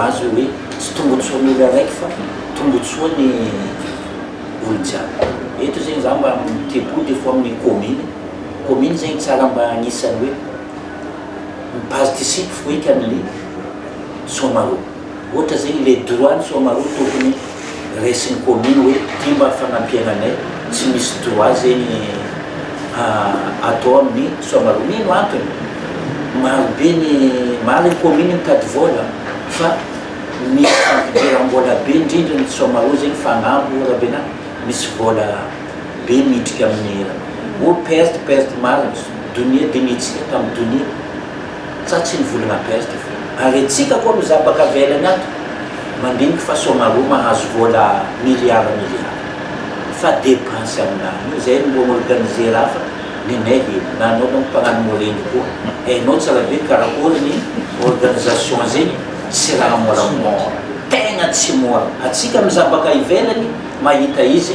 azy hoe tsy tombotsoa ny olo araiky fa tombotsoa ny olo jiaby eto zegny za mba mitepo des fois amin'ny commune commune zegny tsara mba agnisany hoe mi participe foika amin'ny soamaro ohatra zegny le droit ny soamaro tokony resin'ny commune hoe ty mba fanampiana anay tsy misy droit zegny atao amin'ny soamaloo mino antony maro be ny maro ny commune mitady vola fa misy fampidiram-bola be indrindra ny soamaloo zegny fa agnambo rabenahy misy vola be midriky amin'ny oh perte perte marigny donia dinihintsika tamin'ny donia Sa tsy ny volana Grèce ty fo. Ary antsika koa mizaha baka velany ato mandiniky fa soamaroa mahazo vola milliard milliard fa depense aminao io zay no mbo mi-organiser afa nenay heno na anao manko mpagnano moreno koa hainao tsara be karakory ny organisation zegny tsy raha moramora tegna tsy mora atsika mizaha baka ivelany mahita izy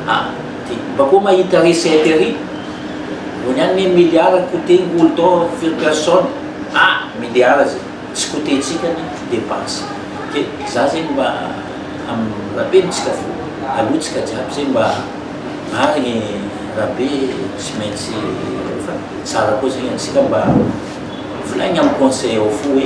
a Mba koa mahita recette ery. Vao niany ny milliard coûté ngolo tao firy personne ah milliard zay tsy coûté tsika ny dépense de za zegny mba am rapeno tsika fo alou tsika jiaby zay mba marigny ra be tsy maintsy fa tsara koa zegny atsika mba volaigny am conseil ao fo hoe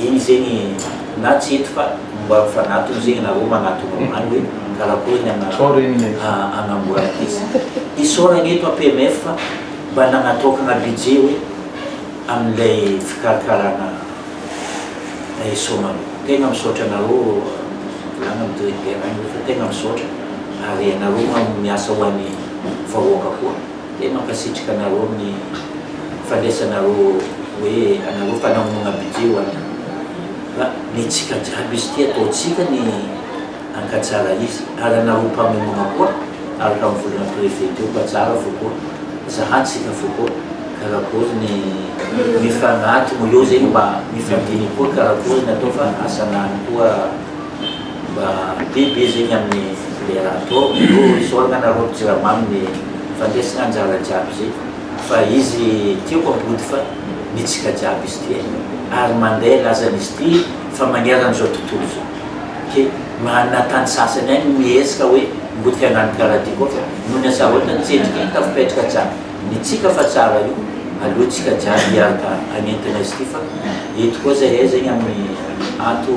Eny zegny na tsy eto fa mba mifanatona zegny nareo manatona omaly hoe karakory ny ana anamboara ankizy isaoragna eto APMF fa mba nagnatokagna budget hoe amin'ilay fikarakaragna eso nareo tegna misaotra anareo volagna ny directeur any hoe fa tegna misaotra ary anareo miasa ho an'ny vahoaka koa. Dia mankasitrika anareo amin'ny fandraisanareo hoe anareo fanamonoana budget ho an'ny fa netsika jiaby izy ity ataontsika ny hankatsara izy ary anareo mpamonoana koa araka ny volana préfet teo fa tsara fo koa zahantsika fo koa karakory ny mifanatona eo zay mba mifandinika koa karakory ny atao fa asan'any koa Mba biby izy igny amin'ny fifiliana atao io izy io agnana rô jirama amin'ny fandresagna anjara jiaby izy fa izy tiako ampody fa mitsika jiaby izy ty eh ary mandeha lazany izy ty fa magneran zao tontolo zao ke mahanina tany sasany any mihetsika hoe mody fiangan'ny paradis koa fa noho ny asarotany tsy endrika ny tafipetraka jiaby mitsika fa tsara io aloha tsika jiaby hiaraka hagnentina izy ty fa eto koa zahay zegny amin'ny ato